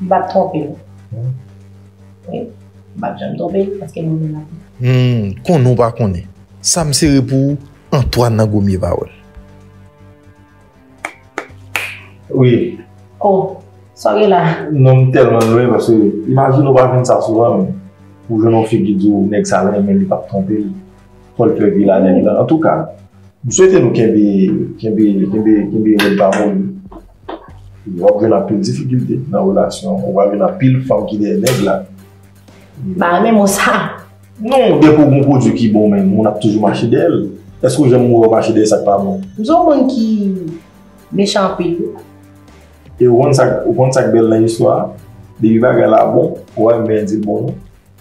M pap twonpe l. Wi. M pap janm twonpe l paske m renmen l anpil. Humm konnen w pa konnen sa m sere pou ou Antwàn nan gomye pawòl. Wi. Oh sa w gen la? Non m tèlman lwen paske imajine w pa jwenn sa souvan men pou w jwenn yon fi ki di w nèg sa renmen l li pap twonpe l. Fòl fè vilanèl lan antouka m swete nou kenbe kenbe kenbe kenbe rèd pa moli wap jwenn anpil difikilte nan relasyon ou pral jwenn anpil fanm ki dèyè nèg la Ba renmen mo sa Non depi ou gon pwodui ki bon menn moun ap toujou mache dèyè l Èske ou janm wè ou mache dèyè sak pa bon M son moun ki mechan anpil wi E ou konn sak ou konn sak bèl nan istwa depi bagay la bon ou pral renmen di l bon non.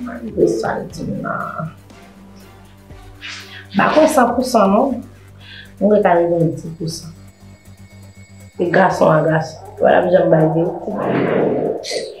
Malgre sa l di m nan, m pa kwè san pou san non, m kwè ka rive yon ti pou san. E gason an gason, wè l ap janm bay verite.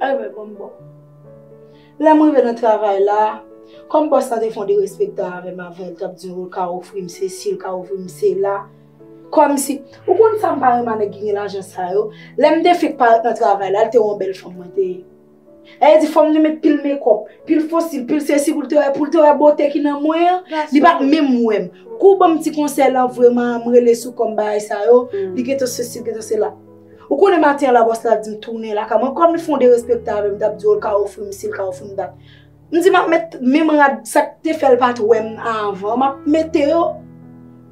Ay mwen bon m bon. Lè m rive nan travay la, kòm bòs la te fon derespektan avè m avan l t ap di m ou ka ofri m sesi, ou ka ofri m sela, kòmsi, ou konn sa m pa renman nèg ki gen lajan sa yo, lè m te fenk parèt nan travay la, l te wè yon bèl fanm mwen te ye. Lè li di fò m te met pil mekòp, pil fo sil, pil sesi pou l te wè, pou l te wè bote ki nan mwen an, li pa t menm wè m. Kou ban m ti konsèy lan vreman m rele sou kò m bagay sa yo, li gentan sesi, li gentan sela. Ou konnen maten an labòs la di m tounen lakay mwen, kòm li fè yon derespektan avè m, m t ap di yo l ka ofri m si l ka ofri m dat. M di m ap met menm rad sa k te fè l pa t wè m avan, m ap mete yo.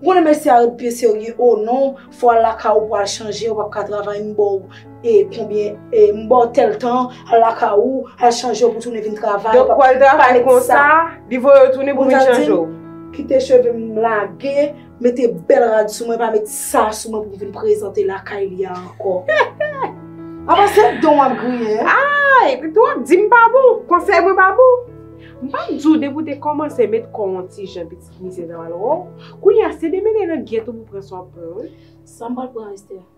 Ou konnen mesye a ret byen serye, o non, fò w al lakay ou pou w al chanje, ou p ap ka travay, m ba w e konbyen e, m ba w tèl tan, al lakay ou, al chanje w pou w tounen vin travay. Donk pou al travay konsa, li voye w tounen pou w vin chanje w. Kite cheve m lage. Mete bèl rad sou mwen pa met sa sou mwen pou vin prezante lakay li a ankò. Apa se don wap griye? Aaa, epi tou wap di m pa bon, konsèy mwen pa bon. M pa di w depi w te kòmanse met kò w yon ti jan pitit misye sa pral wè w. Kounye a se demennen nan gyèt ou pou pran sa w ap pran wi. Sa m pral pran Esther?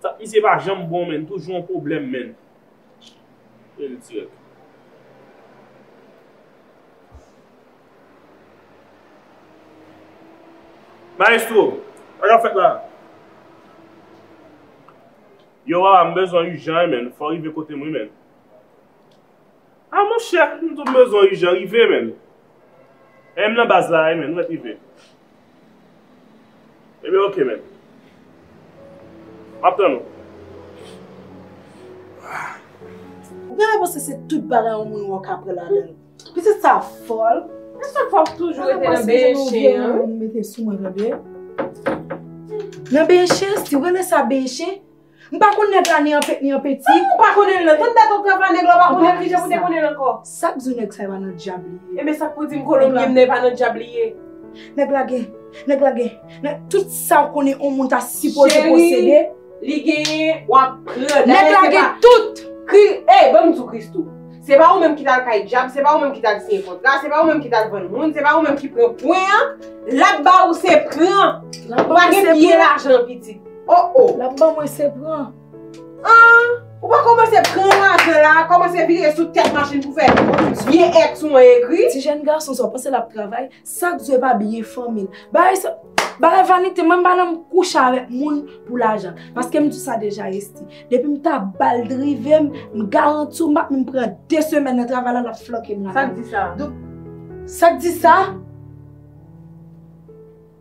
Tèt misye pa janm bon menn toujou yon pwoblèm menn. Rele dirèk. Maestro, sa kap fèt la? Yo wawa m bezwen ijan wi menn, fò rive kote m wi menn. Ah monchè m t bezwen u jan rive menn eh m nan baz la eh menn mwen rive Ebyen ok menn Map tann ou Ou genlè panse se tout bagay yon moun wè w ka pran ladanl Pitit sa fòl A chak fwa ou toujou rete nan benyen chen an wi Nan benyen chen si w rele sa benyen chen. M pa konn nèg la ni an pèt ni an peti. Ou pa konnen l nan. Tout dat ou pran pa nèg la ou pa konnen l kijan pou te konnen l ankò. Sa k di w nèg sa yo pa nan dyab li ye? Ebyen sa k pou di m kolonbyen m nan e pa nan dyab li ye? Nèg la gen, nèg la gen, nèg, tout sa w konnen on moun ta sipoze posede. Cheri, li genyen, w ap pran. Nèg la gen tout! Kri, ey, ban m di w Christoo. Se pa ou menm ki t al kay dyab, se pa ou menm ki t al siyen kontra, se pa ou menm ki t al vann moun, se pa ou menm ki pran pwen an, l ap ba ou se pran! Ou pa gen pye lajan an pitit. Oh oh! Lap ban mwen se pran. Aah! Ou pa komanse pran lajan la, komanse vire sou tèt machin pou fè vye èks ou an egri. Ti jèn gason sa ou panse lap travay? Sak di yo pa byen fanmil. Bagay sa, bagay vanite mwen pa nan kouche avèk moun pou lajan. Paske m di sa deja Esthie. Depi m ta bal drive m, m garanti w m pap menm pran 2 semèn nan travay la lap flanke m lakay li. Sak di sa? Sak di sa?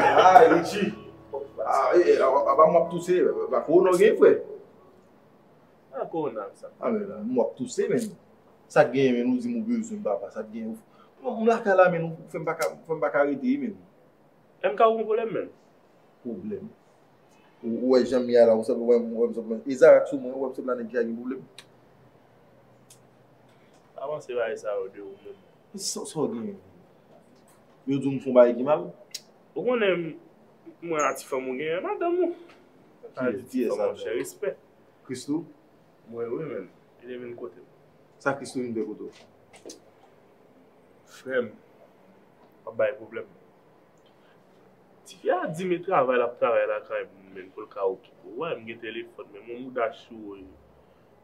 Aaa, Richie! Aaa, e, e, aba m wap touse, ba kou w nan gen fwe? Nan kou w nan sa? A men, m wap touse men. Sa gen men nou di m ou be zoun baba, sa gen ou. M la ka la men, fwe m baka, fwe m baka rete yi men. E m ka ou m vole men? Problem? Ou we jan m ya la, ou se m we m, ou we m se m. E zara tou mwen, ou we m se m la nen ki a gen problem? Pa panse bagay sa yo de ou menm. Sa w gen? Yo di w m fon bagay ki mal? Ou konnen m wè ti fanm ou genyen, madanm ou. Ki yès la? Monchè, respè. Christoo? Mwen wi menm. Li te vin kote m. Sa Christoo vin fè kote w? Frè m, w ap bay pwoblèm. Tifi a di m e travay l ap travay lakay m pou l ka okipe w. Ou wè m gen telefòn men m gen mouda chou.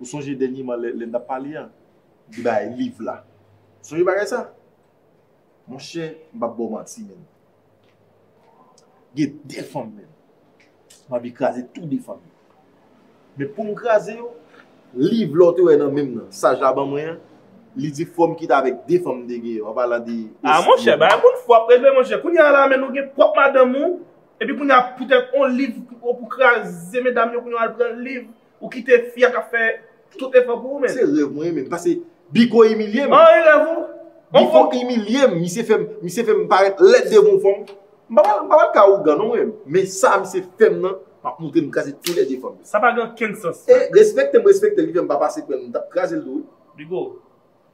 Ou sonje dènyeman lè n t ap pale an, m te bay liv la. Ou sonje bagay sa? Monchè, m pap ba w manti menm. Gen de fanm menm, m anvi kraze tou de fanm yo. Men pou m kraze yo, liv la w te wè nan men m nan, saj la ban mwen an, li di fò m kite avèk de fanm m te gen yo, an palan de Esmir. A monchè, bagay moun fou ap reve monchè. Kounye a la menm ou gen pwòp madanm ou, epi kounye a poutèt on liv ou pou kraze medam yo kounye w al pran liv. Ou kite fi a kap fè tout efò pou ou menm. Se rèv mwen menm pase Biko imilye m. An e rèv ou? Biko imilye m, misye fè m, misye fè m parèt lèd devan yon fanm. M pa pral, m pa pral ka ougan non mwen menm. Men sa misye fè m nan, m ap montre m kraze tou lè 2 fanm yo. Sa pa gen okenn sans. E respekte m respekte l ki fè m pa pase kwè m, m tap kraze l tou wi. Bigo.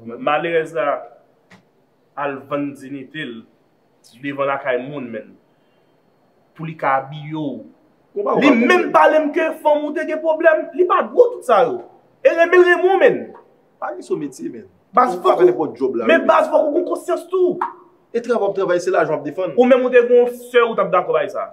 Malerèz la al vann dinite l devan lakay moun menn pou li ka abiye w. Li menm pale m ke fanm ou te gen pwoblèm, li pa gwo tout sa yo. E renmen l renmen w menn. Pa gen sou metye menn. Baz fok ou gen konsyans tou. E travay w ap travay se lajan w ap defann. Ou menm ou te gen yon sè ou t ap dakò bay sa?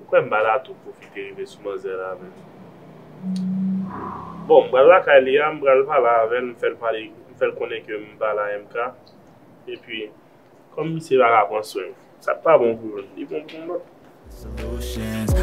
Ou kwè m pa ta tou pwofite rive sou manzè la avè l? Bon, m pral lakay li a, m pral pale avè l, m fè l pale, m fè l konnen ke m pa la MK. Epi, kòm misye pa ka pran swen m, sa k pa bon pou youn, li bon pou yon lòt.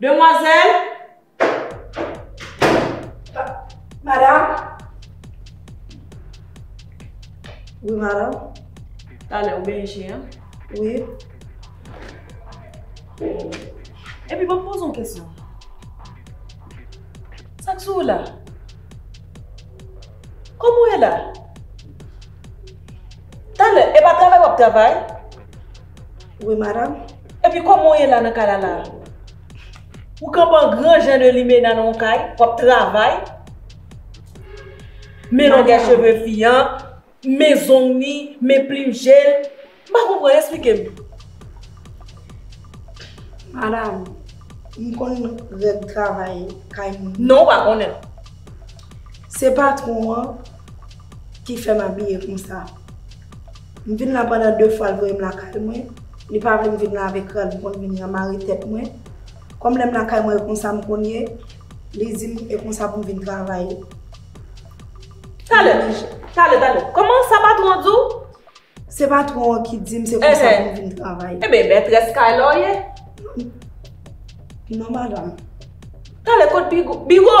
Demwazèl! Madam? Wi, madam. Talè ou byen je, an? Wi. Epi banm poze yon kesyon. Sa k sou ou la? Kòman ou ye la? Talè, e pa travay w ap travay? Wi, madam. Epi koman w ye la nan kay la la a? Ou kanpe an gran jan de limena nan yon kay, w ap travay, men longè cheve fi an, men zong ni, men plim je l. M pa konprann, esplike m. Madam, m konn règ travay kay moun. Non, ou pa konnen l. Se patwon an ki fè m abiye konsa. M vin la pandan 2 fwa l voye m lakay mwen, li pa vle m vin la avèk rad m konn vin la mare tèt mwen, kòm lè m lakay mwen e konsa m konn ye, li di m e konsa pou m vin travay. Talè, talè, talè, kòman sa patwon an di w? Se patwon an ki di m se konsa pou m vin travay. Eben mètrès kay la w ye? Non madanm. Talè kot Bigo? Bigo!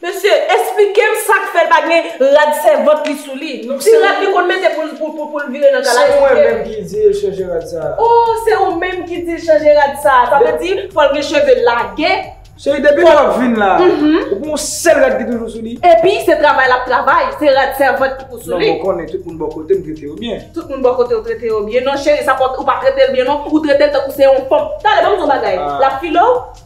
Mesye esplikem sak fèl pa gen rad sèvant li sou li ti rad li konn mete poul vire nan kay la esplikem. Se mwen menm ki dil chanje rad sa. Oh se ou menm ki dil chanje rad sa sa vle di fòl gen cheve lage. Cheri depi lè wap vin la ou pou yon sèl rad ki toujou sou li. Epi se travay lap travay se rad sèvant ki pou sou li. Non mwen konnen tout moun bò kotem trete yo byen. Tout moun bò kotew trete yo byen non cheri sa pa ou pa tretel byen non ou tretel tankou se yon fanm tande banm di yon bagay lap filew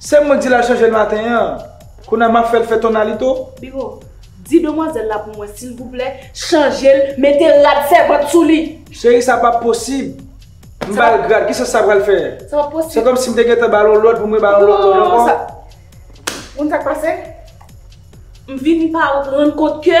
Se mwen ki di l al chanje l maten an. Kounye a m ap fè l fè ton alito. Bigo, di demwazèl la pou mwen silvouplè, chanje l, mete rad sèvant sou li. Cheri sa pap posib. M ba l grad, ki sans sa pral fè? Sa pap posib. Se kòmsi m te gentan ba l yon lòd pou m re ba l yon lòd lòd ankò. Ou konn sa k pase? M vin pa reprann kont ke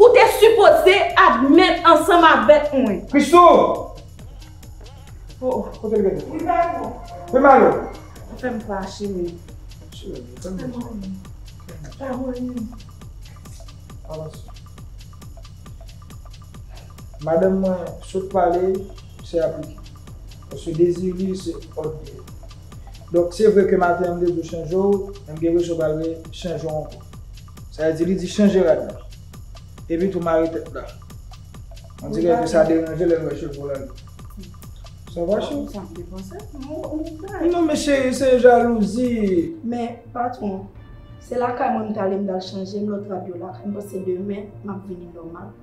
Ou te sipoze admèt ansanm avèk mwen. Christoo! Oh kote li mete? Li pa bon. Li pa bon? Ou fè m fache menm. Pa mouri. Avanse. Madanm mwen sot pale se aplike. Paske dezi li se òd li ye. Donk se vre ke maten an m te di w chanje w, men m gen rezo pral re chanje w ankò. Sa vle di li di chanje rad la. Epi tou mare tèt la. On dirè ke sa deranje lè l wè cheve w la li. Sa va cheri? Sa m te panse tou non pou m fè. Non men cheri se jalouzi. Men patron, se lakay mwen m t ale m t al chanje m lòt rad yo lakay m paske demen m ap vini nòmal.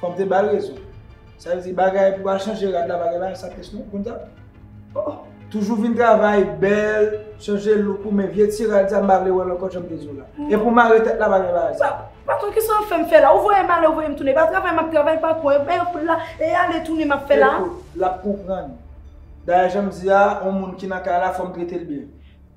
Fò m te ba l rezon. Sa vle di bagay pou al chanje rad la pa gen bagay sa pyès non konn sa. Oh! Toujou vin travay bèl, chanje look ou men vye ti rad sa m pa vle wè l ankò jan m te di w la. E pou mare tèt la pa gen bagay sa. Patron ki sa w fè m fè la? Ou voye m ale ou voye m tounen. E pa travay m ap travay patron. E men fout la e ale tounen m ap fè la. Ekout, l ap konprann. Dayè jan m di a, on moun ki nan kay la fò m trete l byen.